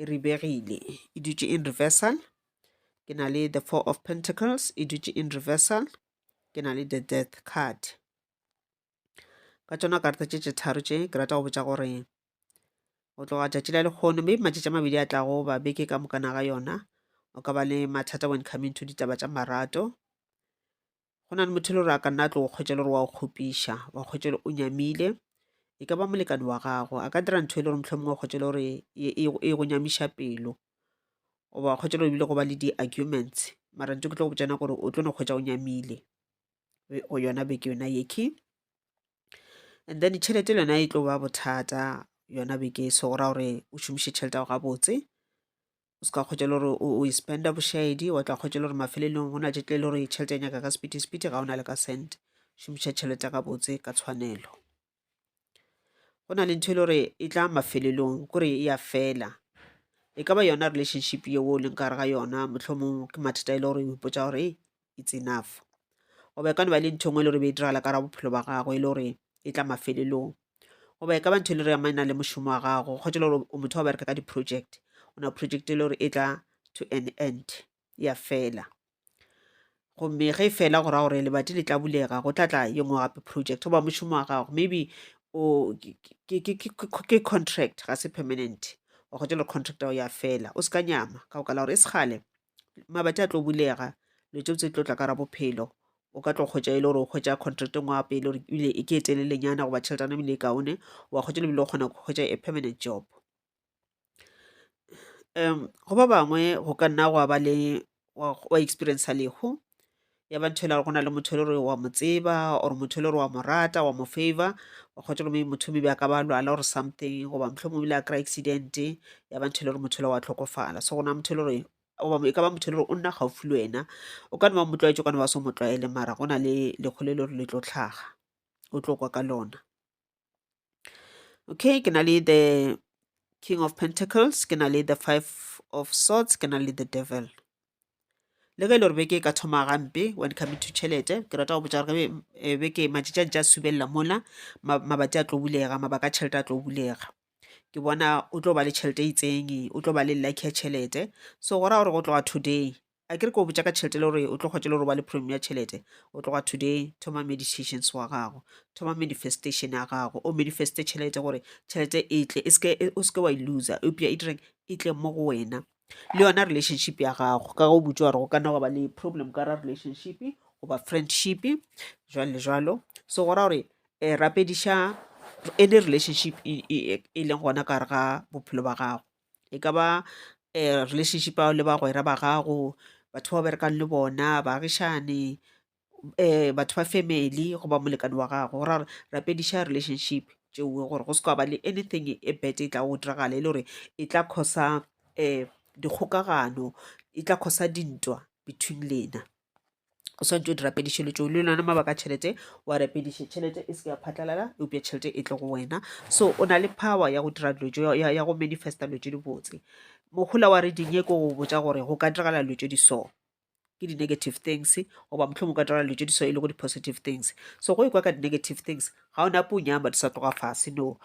e ribegile e dutše in reversal ke na le the four of pentacles e dutše in reversal ke na le the death card ka tšona karta tše tše tharo tše ke rata go botša gore go tloga tšatši la lekgono maybe matšatši a mabedi a tlago ba beke ka mokana ga yona o ka ba le mathata when coming to ditaba tša marato Go na le motho e le gore a ka nna a tlo go kgwetša le gore wa go kgopiša, wa kgwetša le o nyamile. E ka ba molekane wa gago, a ka dira ntho e le gore mohlomongwe wa kgwetša le gore e go nyamiša pelo. Goba wa kgwetša le gore ebile go ba le di-arguments, mara ntho ke tlo go botša yona gore o tlo no kgwetša o nyamile go yona beke yona yekhwi. And then tšhelete le yona e tlo ba bothata yona beke e so, go ra gore o šomiše tšhelete ya gago gabotse. o se ka kgwetša le gore o e spenda bošaedi wa tla kgwetša le gore mafelelong go na tše tle le gore tšhelete ya nyaka ka sepiti ga o na le ka cent šomiša tšhelete ka botse ka tshwanelo go na le ntho e le gore e tla mafelelong kore e ya fela e ka ba yona relationship yeo o leng kare ga yona mohlomong ke mathata e le gore o ipotsa gore it's enough goba e ka no ba le ntho engwe e le gore be e diragala ka ra bophelo ba gago e le gore e tla mafelelong goba e ka ba ntho e le re ya maina le mošomo wa gago kgotsa le gore o motho wa bereka ka di-project o na project e le gore e tla to an end ya fela gomme ge e fela go ra gore lebati le tla bulega go tla tla ye nngwe gape project goba mošomo wa gago maybe o ke contract ga se permanent wa kgotsa le contract ya fela o se ka nyama ka go ka la gore e segale mabati a tlo bulega lo tšeo tse tlo tla ka ra bophelo o ka tlo kgwetša e le gore o kgwetša contract e ngwapa e le gore ebile e ke e telelenyana goba tšheletana ebile e kaone wa kgwetša lebile o kgona go kgwetša a permanent job um go ba bangwe go ka nna gwa ba le wa experienca lehu ya ba ntho e le gore go na le motho e le gore wa mo tseba or motho e le gore wa mo rata wa mo favor wa kgotsa gomme motho maybe a ka ba lwala or something goba motlho mongwe le a kry accident ya ba ntho e le gore motho le wa tlhokofala so gona motho e le gore goba e ka ba motho e le gore o nna gaufi le wena o ka ne ba motlwaetse o ka ne ba so motlwaele mara go na le lekgolo e le gore le tlo tlhaga o tlo kwa ka lona okay ke na le the king of pentacles ke na le the five of swords ke na le the devil le ge e le gore beke e ka thoma gampe when coming to tšhelete ke rata go botsa gore eh, beke matšatšang tša subelela mola mabati a tlo bulega mabaka a tšhelete a tlo bulega ke bona o tlo ba le tšhelete e itseng o tlo ba le lucky ya tšhelete so go ra gore go tloga today a kere ke o botša ka tšhelete le gore o tlo kgwetše le gore ba le problem ya tšhelete o tloga today thoma meditations wa gago thoma manifestation ya gago o manifeste tšhelete gore tšhelete e tle e o seke wa e loser eupša e direng e tle mo go wena le yona relationship ya gago ka go butse gore go ka nna go ba le problem ka ra relationship goba friendship jwalo le jwalo so go ra gore um rapediša any relationship e, e, e, e leng gona ka gare ga bophelo ba gago e ka ba relationship ya gago le bagwera ba gago, batho ba o berekang le bona, baagišane, batho ba family goba molekane wa gago. Go ra gore rapediša relationship tšeo gore go se ka ba le anything e bad e tlago go diragala e le gore e tla cause-a dikgokagano, e tla cause-a dintwa between lena. o swanetše o di rapediše dilo tšeo le lona mabaka a tšhelete wa rapediše tšhelete e seke ya phatlalala eupša tšhelete e tle go wena so o na le power ya go dira dilo tšeo ya go manifesta dilo tše di botse mogola wa reading ye ko go botša gore go ka diragala dilo tše di so ke di-negative things goba motlhong o ka diragala dilo tše di so e le go di-positive things so go e kwa ka di-negative things ga o nape o nyama di sa tloga fase no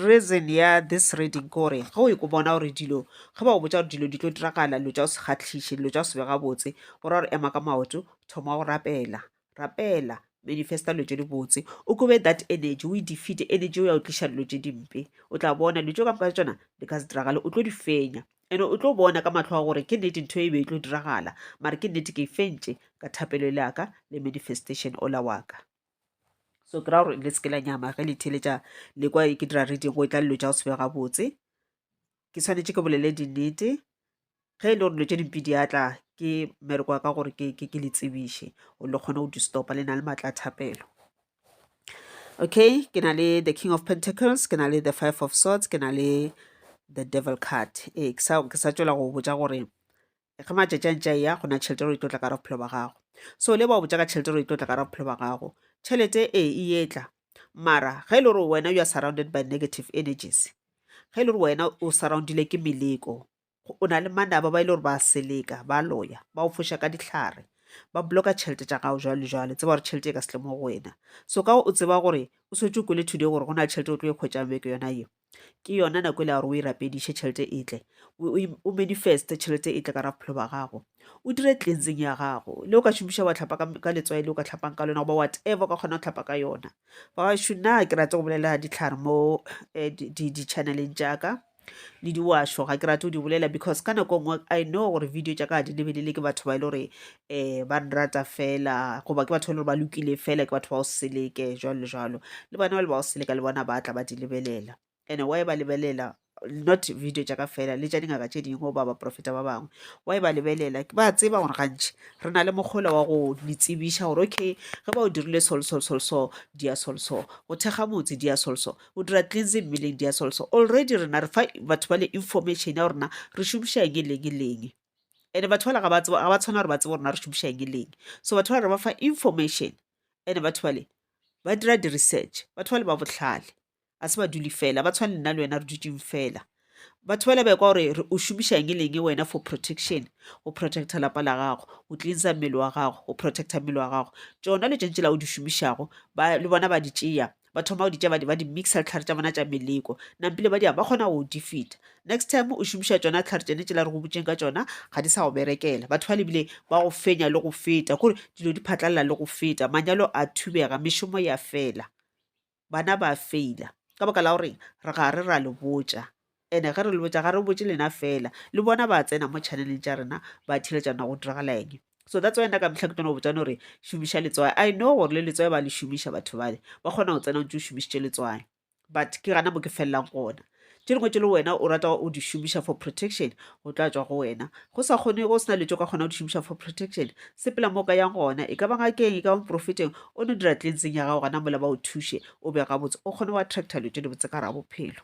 Reason ya this reading ke gore ge o ekwa o bona gore dilo ge ba go botša gore dilo di tlo diragala dilo tša go se kgahliše dilo tša go se be gabotse go ra gore ema ka maoto thoma go rapela rapela manifest-a dilo tše dibotse o kobe that energy o e defeat-e energy eo ya go tliša dilo tše dimpe o tla bona dilo tšeo ka moka tšona di ka se diragale o tlo di fenya and-e o tlo bona ka matlho a gore ke nnete ntho e be e tlo diragala mare ke nnete ke e fentše ka thapelo le ya ka le manifestation ola wa ka. so ke ra gore le seke la nyama ge le theletša le kwa ke dira reading go e tla dilo tša go se be gabotse ke tshwanetse ke bolele dinnete ge e le gore dilo tše dimpe di atla ke mmereko wa ka gore ke ke le tsebiše o le kgone go di stopa le na le maatla a thapelo okay ke na le the king of pentacles ke na le the five of swords ke na le the devil card ee ke sa tswela go botja gore ge matšatši a ntše a ya go na tšhelete gore e tlo tla ka ra bophelo ba gago so le ba o botsa ka tšhelete gore e tlo tla ka ra bophelo ba gago tšhelete e e etla mara ge e le gore wena you are surrounded by negative energies ge e le gore wena o surroundile ke meleko o na le manaba ba e le gore ba seleka ba loya ba o foša ka dihlare ba bloka tšhelete tša gago jalo jalo tseba gore tšhelete e ka setle mo go wena so ka o tseba gore o swetse o kwele today gore go na le tšhelete o tlo e kgwetšang beke yona eo ke yona nako e le ya gore o e rapediše tšhelete e tle o manifeste tšhelete e tle ka ra bophelo ba gago o dire cleansing ya gago le o ka šomiša wa tlhapa ka letswai le o ka tlhapang ka lona goba whatever o ka kgona go tlhapa ka yona babašo na ke rate go bolela ditlhare mo eh, di-channeleng jaaka le diwašo ga ke rate go di bolela because ka nako nngwe i know gore video tša ka ga di lebelele ke batho ba e le gore um ba nrata fela goba ke batho ba e le gore ba lokile fela ke batho ba go seleke jwalo le jwalo le bona ba le ba go seleka le bona ba tla ba di lebelela and why ba lebelela not video tša ka fela le tša dingaka tše dingwe goba baprofeta ba bangwe why ba lebelela ke ba tseba gore gantši re na le mokgolo wa go le tsebiša gore okay ge ba o dirile solsolsolso di ya solso go thekga motse di ya solso o dira cleansing mmeleng di ya solso already rena re fa batho ba le information ya gorena re šomiša eng e leng e leng and-e batho bale ga ba tshwane gore ba tsebe gore na re šomiša eng le eng. So batho bale re ba fa information and-e batho bale ba dira di-research, batho bale ba bohlale ga se badudi fela, ga ba tshwane le nna le wena re dutše fela. Batho bale ba ekwa gore o šomiša eng le eng wena for protection, go protect-a lapa la gago, go cleanser mmele wa gago, go protect-a mmele wa gago. Tšona dilo tše ntši tšela o di šomišago le bona ba di tšea ba thoma go di tša ba di mixa ditlhare tša bona tša meleko nampile ba di ba kgona go di fita next time o šomiša tsona ditlhare tsene tšela re go botseng ka tsona ga di sa go berekela batho ba lebile ba go fenya le go feta kore dilo di phatlalela le go feta manyalo a thubega mešomo ya fela bana ba feila ka baka la gore re ga re ra le botša And ge re le botša ga re botše lena fela le bona ba tsena mo channeleng tša rena ba theletša na go diragala eng so that's why nna ka mehla ke tlono botšane gore šomiša letswae i know gore le letswae ba le šomiša batho bale ba kgona go tsena o ntse o šomišitše letswae but ke gana mo ke felelang gona tše dingwe tše le wena o rata o di šomiša for protection go tla tswa go wena go sa kgone go sena letso ka kgona go di šomiša for protection sepela mo ka yang gona e ka ba ngakeng e ka ba moprofeteng o no dira tlenseng ya gago gana mola ba o thuše o be gabotse o kgone go attracta lo tše dibotse ka ra bophelo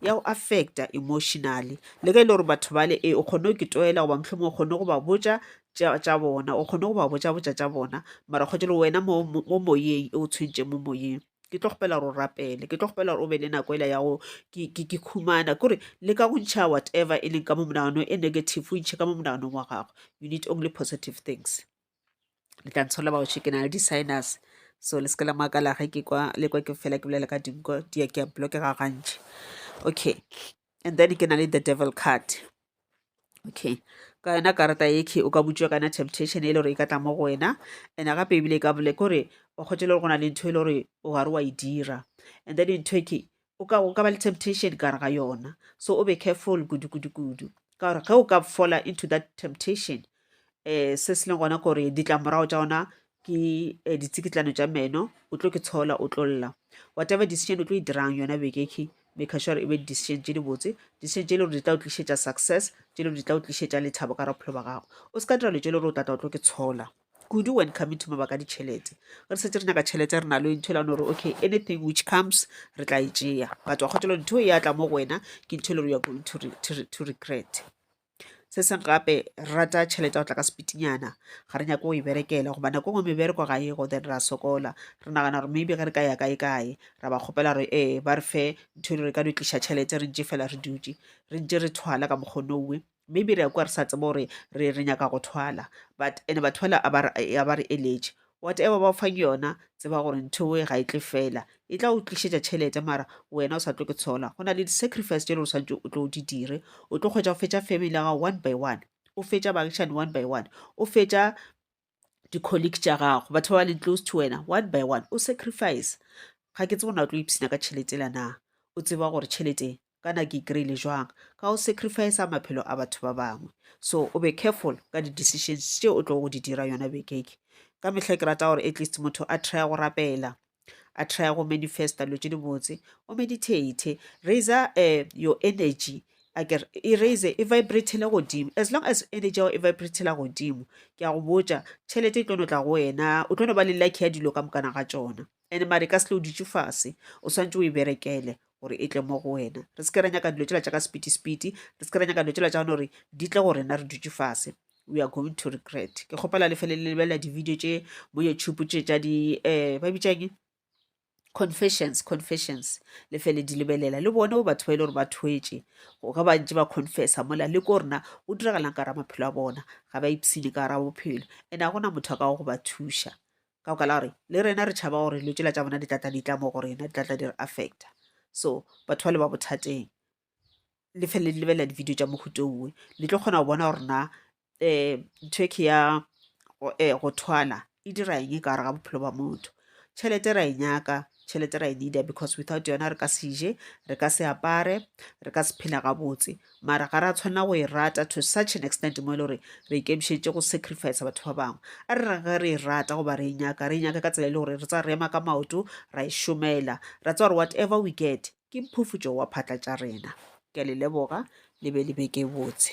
ya go affecta emotionally le ge e le gore batho bale e o kgone go ke toela goba mohlomong o kgone go ba botša tša bona o kgone go ba botša botša tša bona mara kgotse le wena mo moyeng e o tshwentšeng mo moyeng ke tlo kgopela gore o rapele ke tlo kgopela gore o be le nako ela ya go ke khumana kore le ka go ntšha whatever e leng ka mo monagano e negative o ntšhe ka mo monaganong wa gago you need only positive things le tla ntsholela baoši ke na le di-sinus so le se ke la makala ge ke kwa le kwa ke fela ke bolela ka dinko di ya ke a blockega gantši okay and then ke na le the devil card okay ka yona karata eke o ka butšwa kana temptation e le gore e ka tla mo go wena and gape ebile e ka bole kore o kgotse le gore go na le ntho e le gore o gare wa e dira and then ntho eke o ka o ka ba le temptation ka ga yona so o be careful kudu kudu kudu ka gore ge o ka fola into that temptation eh se se leng gona gore ditlamorago tša ona ke eh, ditsikitlano tša meno o tlo ke tshola o tlo lla whatever decision o tlo e dirang yona bekeke make sure e be decision tše di botse decision tše e le gore di tla o tlišetša success tše e le gore di tla o tlišetša lethabo ka ra bophelo ba gago o se ka dira lo tše e le gore o tlatla o tlo ke tshola kudu when coming to mabaka ditšhelete re setse re nyaka tšhelete re na le ntho e lano gore okay anything which comes re tla e tšea but wa kgotelo ntho e atla mo go wena ke ntho e le gore you are going to, re, to, re, to regret se seng gape re rata tšhelete go tla ka sepitinyana ga re nyako go e berekela goba nako ngwe mebereko ga ego then ra sokola re nagana gore maybe ge re ka ya kae kae ra ba kgopela gore ee ba re fe ntho e le re ka no tliša tšhelete re ntše fela re dutše re ntše re thwala ka mokgono owe Maybe re a kwa re sa tsebe gore re re nyaka go thwala but ene ba thwala a ba re eletše whatever ba fang yona tseba gore ntho e ga e tle fela e tla o tlišetša tšhelete mara wena o sa tlo ke tshola go na le di-sacrifice tše le gore santse o tlo o di dire o tlo kgwetsa go fetša family ya gago one by one o fetša baagišane one by one o fetša di-colleague tša gago batho ba ba leng close to wena one by one o sacrifice ga ke tsebo na o tlo ipshina ka tšhelete la na o tseba gore tšhelete kana ke kry-ile jwang ka go sacrifice maphelo a batho ba bangwe so o be careful ka di-decisions tše o tlo go di dira yona bekeke ka mehla ke rata gore at least motho a trya go rapela a try go manifesta dilo tše dibotse o meditate raiser um eh, your energy aker e raise e vibratele godimo as long as energy yago e vibratela godimo ke a go botša tšhelete e tlo no tla go wena o tlo no ba le lucky ya dilo ka mokana ga tsona and mare ka selo o dutše fase o swantse o e berekele gore e tle mo go wena re se ke ra nyaka dilo tsela tša ka sepiti-sepiti re se ke ra nyaka dilo tsela tša gone gore di tle go rena re dutše fase we are going to regret ke kgopela le fele le lebelela di-video tše bo youtube tše tša di um ba bitšang confessions confessions le fele di lebelela le bone bo batho ba e le gore ba thwetše ga ba ntse ba confessa mola le ko rena o diragalang ka ra maphelo a bona ga ba ipsene ka ra bophelo and a gona motho a ka go ba thuša ka go ka la gore le rena re tšhaba gore lo tsela tša bona di tlatla di tla mo go rena di tlatla di re affecta so batho ba le ba bothateng le fele le lebelela di-video tša mohuta owe le tlo kgona go bona gore na um ntho e ke ya go thwala e dira eng ka gare ga bophelo ba motho. Tšhelete ra e nyaka, tšhelete ra e need-a because without yona re ka se je, re ka se apare, re ka se phela gabotse mara ga ra tshwanela go e rata to such an extent mo e le gore re ikemišeditše go sacrifice batho ba bangwe. A re rage re e rata goba re e nyaka, re e nyake ka tsela e le gore re tsa re ema ka maoto ra e šomela, ra tseba gore whatever we get ke mphufutšo wa phatla tša rena. Ke a le leboga, le be le be ke botse.